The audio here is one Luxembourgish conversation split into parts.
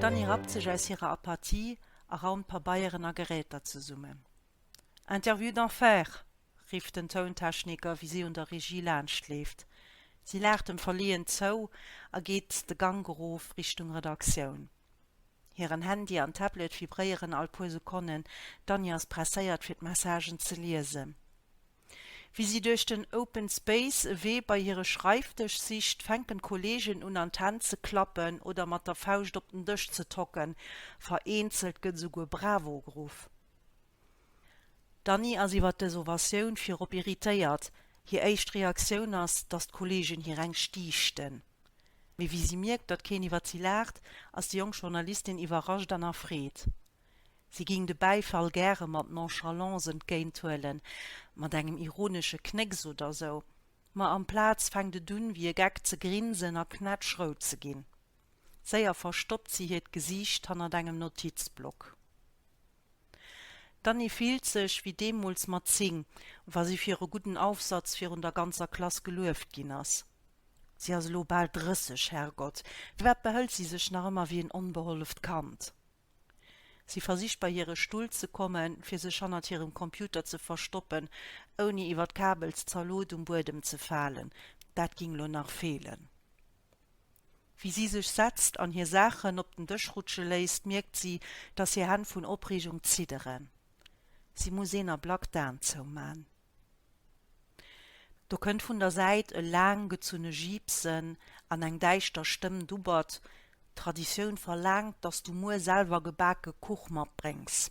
D'Annie rappt sech aus hirer Apathie a raumt Pabeieren a Geräter zesummen. Interview d'enfer! rifft den Tountechniker, wéi si un der Regie laanscht leeft. Si laacht em verleeën zou a geet de Gank erof Richtung Redaktioun. Hiren Handy an Tablet vibréieren all puer Sekonnen, d'Annie ass presséiert fir d'Messagen ze liesen. Wéi si duerch den Open Space e Wee bei hire Schreifdësch sicht, fänken d'Kolleegen un an d'Hänn ze klappen oder mat der Fauscht op den Dësch ze tocken, vereenzelt gëtt esouguer Bravo geruff. D'Annie ass iwwert dës Ovatioun virop irritéiert. Hir éischt Reaktioun ass, datt d'Kolleegen hir eng stiichten. Mee wéi si mierkt, datt keen iwwert si laacht, ass déi jonk Journalistin iwwerrascht an erfreet. Si géing de Bäifall gäre mat Nonchalance entgéint huelen, mat engem ironesche Knécks oder sou. Ma amplaz fänkt et un, wéi e Geck ze grinsen a knätschrout ze ginn. Séier verstoppt si hiert Gesiicht hannert engem Notizblock. D'Annie fillt sech wéi deemools mat 10, wa si fir e gudden Aufsatz virun der ganzer Klass gelueft ginn ass. Si ass elo bal 30, Herrgott, firwat behëlt si sech nach ëmmer wéi en onbeholleft Kand? Si versicht bei hire Stull ze kommen, fir sech hannert hirem Computer ze verstoppen, ouni iwwer d'Kabelszalot um Buedem ze falen, dat ging elo nach feelen. Wéi si sech setzt an hir Saachen op den Dësch rutsche léisst, mierkt si, dass hir Hänn vun Opreegung zidderen. Si muss een Ablack d'Aen zouman. Do kënnt vun der Säit e laang gezunne Jiipsen an eng däischter Stëmm dubbert, D'Traditioun verlaangt, dass du muer selwer gebake Kuch matbréngs.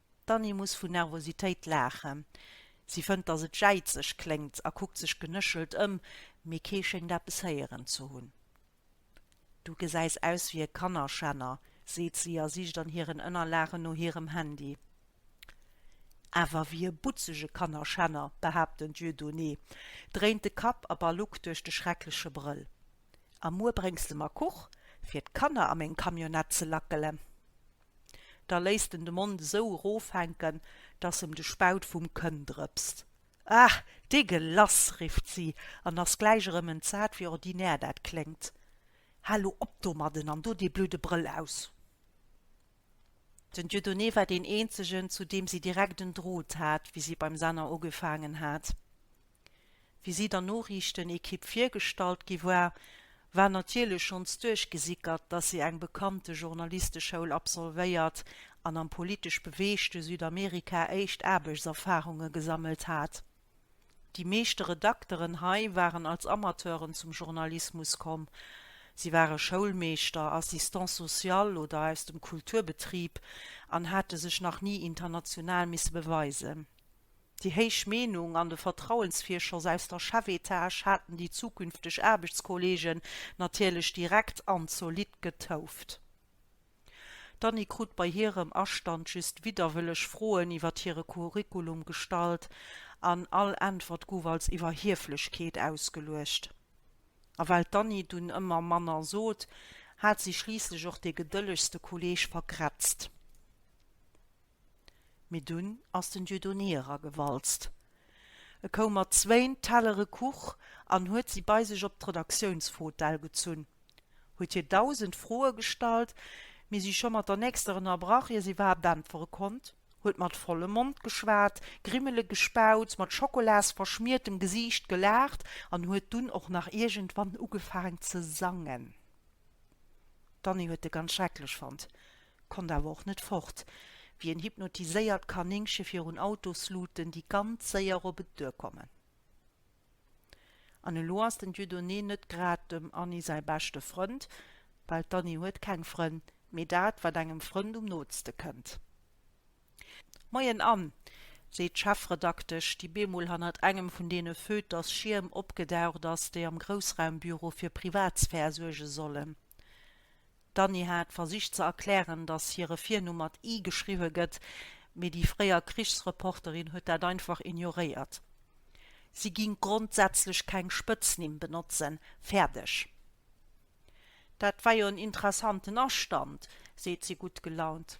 D'Annie muss vu Nervositéit laachen. Si fënnt, datt et jäizeg kléngt a kuckt sech genéchelt ëm, mee kee schéngt eppes héieren ze hunn. Du gesäis aus wéi e Kannerschänner, seet si a sicht an hiren Ënnerlagen no hirem Handy. Awer wéi e butzege Kannerschänner, behaapt den Dieudonné, dréint de Kapp a baluckt duerch de schreckleche Brëll. A muer bréngs de mer Kuch, fir d'Kanner a meng Camionnette ze lackelen. Da léisst en de Mond esou eroofhänken, dass em de Spaut vum Kënn drëpst. Ah, dégueulasse! rifft si an ass gläich erëm entsat, wéi ordinär dat kléngt. Hal lo op domadden an do dee blöde Brëll aus! Den Dieudonné war deen eenzegen, zu deem si direkt en Drot hat, wéi si beim Senner ugefaangen hat. Wéi si der Noriichtenekipp virgestallt gi war, war natierlech schonns duerchgesickert, datt si eng bekannte Journalisteschoul absolvéiert an am politesch beweegte Südamerika éischt Aarbechtserfarunge gesammelt hat. Déi meeschte Redakteren hei waren als Amateuren zum Journalismus komm, si ware Schoulmeeschter, Assistant social oder aus dem Kulturbetrib an hate sech nach ni international misse beweisen. Déi héich Meenung an de Vertrauensvirschoss aus der Chefetage haten déi zukünfteg Aarbechtskollegen natierlech direkt an zolidd getouft. D'Annie krut bei hirem Astand just widderwëlleg Froen iwwer hire Curriculum gestallt an all Äntwert guff als Iwwerhieflechkeet ausgeluecht. A well d'Annie dunn ëmmer manner sot, hat si schliisslech och dee gedëllegste Kolleg vergrätzt. Mee dunn ass den Dieudonné eragewalzt. E koum mat zwéin Tellere Kuch an huet si bei sech op d'Redaktiounsfotell gezunn, huet hir dausend Froe gestallt, mee si scho mat der nächster ënnerbrach, ier si iwwerhaapt äntwere konnt, huet mat vollem Mond geschwat, Grimmele gespaut, mat Schokolasverschmiertem Gesiicht gelaacht an huet dunn och nach iergendwann ugefaang ze sangen. D'Annie huet e ganz schrecklech fonnt. Konnt awer och net fort, wéi en hypnotiséiert Kaninkche virun Autosluuten, déi ganz séier op et duerkommen. An elo ass den Dieudonné net grad dem Anni säi beschte Frënd, well d'Anni huet keng Frënn, mee dat, wat engem Frënd um nootste kënnt. Moien, Ann! seet d'Chefredaktesch, déi bemol hannert engem vun deene Feuilletersschierm opgedaucht ass, déi am Groussraumbüro fir Privatsphär suerge sollen. D'Annie hat versicht ze erklären, datt hire Virnumm mat i geschriwwe gëtt, mee déi fréier Krichsreporterin huet dat einfach ignoréiert. Si ging grondsätzlech keng Spëtznimm benotzen, fäerdeg. Dat war jo en interessanten Astand, seet si gutt gelaunt.